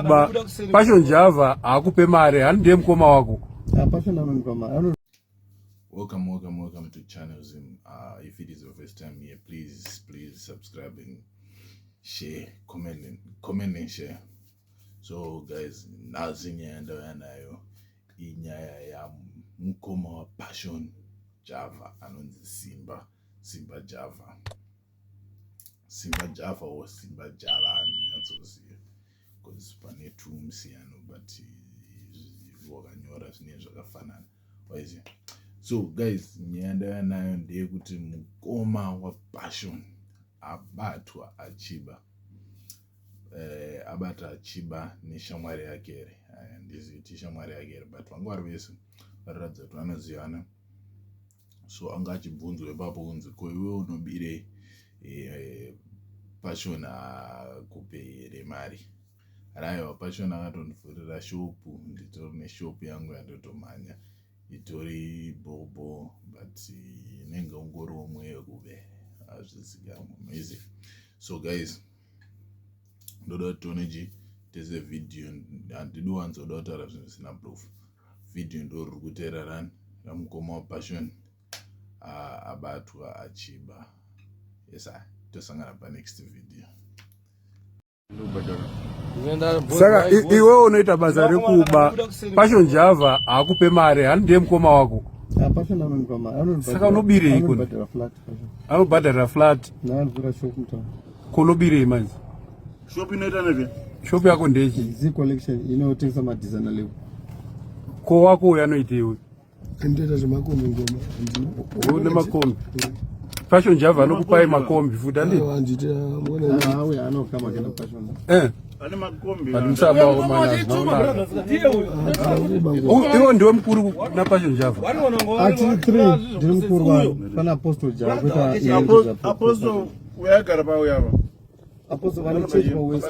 kuba passion java haakupe mari hani ndiye mukoma wako ah, Welcome, welcome, welcome to Channel Zim. Uh, if it is your first time here, please, please subscribe and share, comment, and, comment and share. So, guys, nazi nyaya ndauya nayo inyaya yamukoma wapassion java anonzi simba simba java Simba Java or Simba Java handinyatsoziva because pane two musiyano but wakanyora zvinee zvakafanana waiziva so guys nyaya ndaiva nayo ndeyekuti mukoma wapassion abatwa achiba eh, abata achiba neshamwari yake here handizivi ti shamwari yake here but vanga vari vese vairatidza kuti vanozivana so anga achibvunzwa ipapo kunzi ko iwe unobire eh, pashon akupe here mari raiwa pashon akatondivhurira shopu nditori neshopu yangu yandotomhanya itori bobo but inenge ungori womwe yekuve hazvizikamwe maizi so guys ndoda kuti tione chii tese vhidhiyo handidi wanzoda kutaura zvinhu zvisina proof video ndo riri kuteera rani ramukoma wapassion ah, abatwa achiba esa tosangana panext video saka iwe unoita basa rekuba passion java haakupe mari hani ndiye mukoma wako saka unobirei anobhadharira flat kunobirei manje Shop inoita nezve shop yako ndechi zi collection inotengesa madizana levo ko wako uyo anoitei uyo anotoita zvemakombi ngoma oh, une makombi fashion java anokupai makombi futi andiivo ndiwe mukuru na fashion java uyaigara pauya ava Apostle vanochechwa wese.